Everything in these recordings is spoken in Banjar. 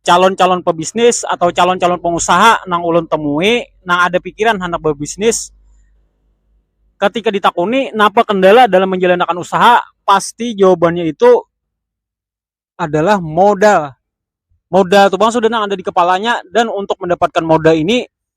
calon-calon pebisnis atau calon-calon pengusaha nang ulun temui nang ada pikiran handak berbisnis ketika ditakuni napa kendala dalam menjalankan usaha pasti jawabannya itu adalah modal, modal tu pang sudah nang ada dikepalanya dan untuk mendapatkan modal ini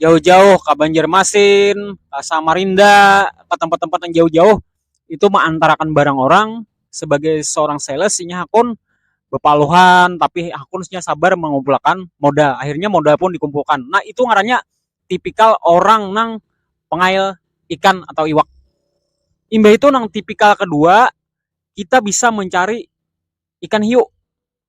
jauh-jauh ka Banjarmasin, ka Samarinda, ka tempat-tempat nang jauh-jauh itu maantarakan barang orang sebagai seorang sales inya hakun bepaluhan tapi hakun inya sabar mengumpul akan modal, akhirnya modal pun dikumpulkan nah itu ngarannya tipikal orang nang pengail ikan atau iwak, imbah itu nang tipikal kedua kita bisa mencari ikan hiu.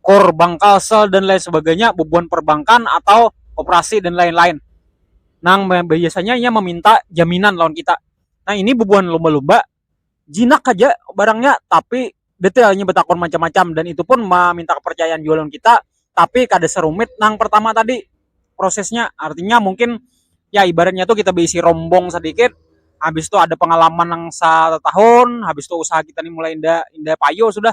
kor bangkal sel dan lain sebagainya bubuhan perbankan atau operasi dan lain-lain nang biasanya inya meminta jaminan lawan kita nah ini bubuhan lumba-lumba jinak haja barangnya tapi detail inya batakun macam-macam dan itu pun meminta kepercayaan jua lawan kita tapi kada serumit nang pertama tadi prosesnya artinya mungkin ya ibaratnya tu kita beisi rombong sedikit habis tu ada pengalaman nang sa tahun habis tu usaha kita ni mulai inda inda payu sudah.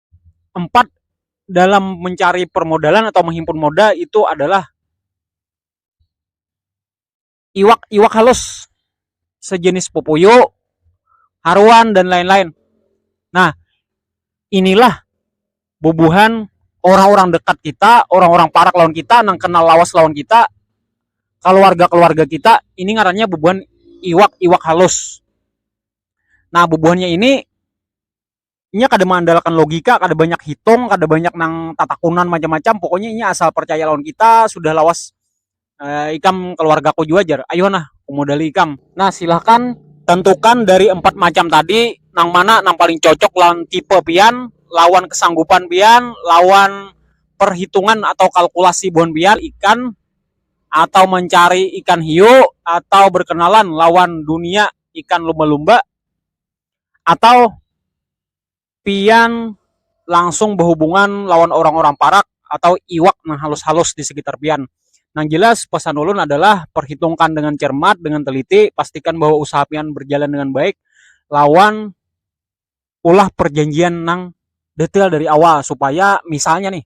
empat dalam mencari permodalan atau menghimpun modal itu adalah iwak-iwak halus sejenis pupuyu, haruan dan lain-lain. Nah, inilah bubuhan orang-orang dekat kita, orang-orang parak lawan kita, nang kenal lawas lawan kita, keluarga-keluarga kita, ini ngarannya bubuhan iwak-iwak halus. Nah, bubuhannya ini inya kada mengandalkan logika, kada banyak hitung, kada banyak nang tatakunan macam-macam, pokoknya inya asal percaya lawan kita sudah lawas ikam keluargaku jua jar, ayuh nah kumodali ikam. Nah silahkan tentukan dari empat macam tadi nang mana nang paling cocok lawan tipe pian, lawan kesanggupan pian, lawan perhitungan atau kalkulasi buhan pian ikan atau mencari ikan hiu atau berkenalan lawan dunia ikan lumba-lumba. atau pian langsung bahubungan lawan orang-orang parak atau iwak nang halus-halus di sekitar pian. Nang jelas pesan ulun adalah perhitungkan dengan cermat, dengan teliti, pastikan bahwa usaha pian berjalan dengan baik lawan ulah perjanjian nang detail dari awal supaya misalnya nih.